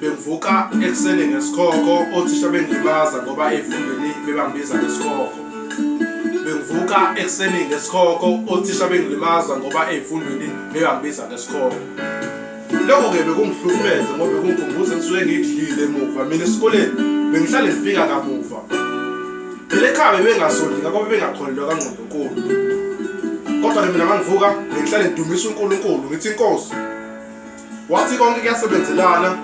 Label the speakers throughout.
Speaker 1: bengivuka ekuseni ngesikhokho othisha bengilimaza ngoba efundweni bebangibiza ngesikhokho bengivuka ekuseni ngesikhokho othisha bengilimaza ngoba efundweni bebangibiza ngesikhokho lokho ke bekungihlukumeze ngoba bekungikhumbuza ngisuke ngidlile emuva mina esikoleni bengihlale ngifika kamuva phela ekhaya bebengasondika ngoba bengakholelwa kangqondo kodwa nami mina mangivuka ngihlale ngidumisa uNkulunkulu ngithi inkosi wathi konke kuyasebenzelana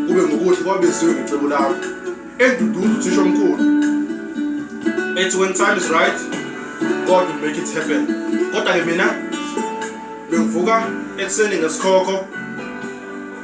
Speaker 1: kube ngokuhle kwabeziwe ngecebo lami enduduzo uthisha omkhulu ethi when time is right god will make it happen kodwa-ke mina bengivuka ekuseni ngesikhokho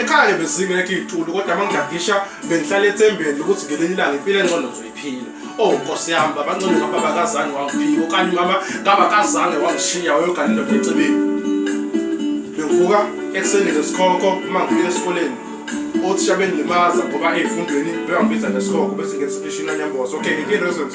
Speaker 1: ekhaya bezingekho iy'tulo kodwa uma ngidadisha bengihlala ethembeni ukuthi ngelinye ilanga impilo engcono ngizoyiphila o oh, nkosi yami babancane ngababa kazange wangiphika okanye umama ngaba kazange wangishiya wayogana indoda ecebeni bengivuka ekuseni ngesikhokho uma ngifika esikoleni othisha bendilimaza ngoba ey'fundweni bebangibiza ngesikhokho bese ngethi sifishini anyamboza okay ngikini reasons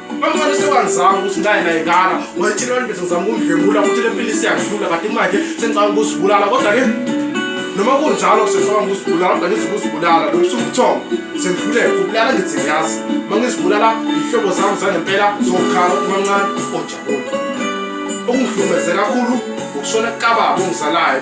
Speaker 1: Bamfana sewangizama ukuthi ngaye naye ngala ngoba thina abantu bethu ngizama ukundlengula futhi le mpilo isiyahlula kanti manje sengicanga ukuzibulala kodwa ke noma kunjalo sesicabanga ukuzibulala kodwa ngithi ukuzibulala lokhu sumthombo sendluleke kubulala ngithi ngiyazi uma ngizibulala iy'hlobo zami zangempela zokukhala kumancane ojabule okungihlukumeze kakhulu ukushona kababa ongizalayo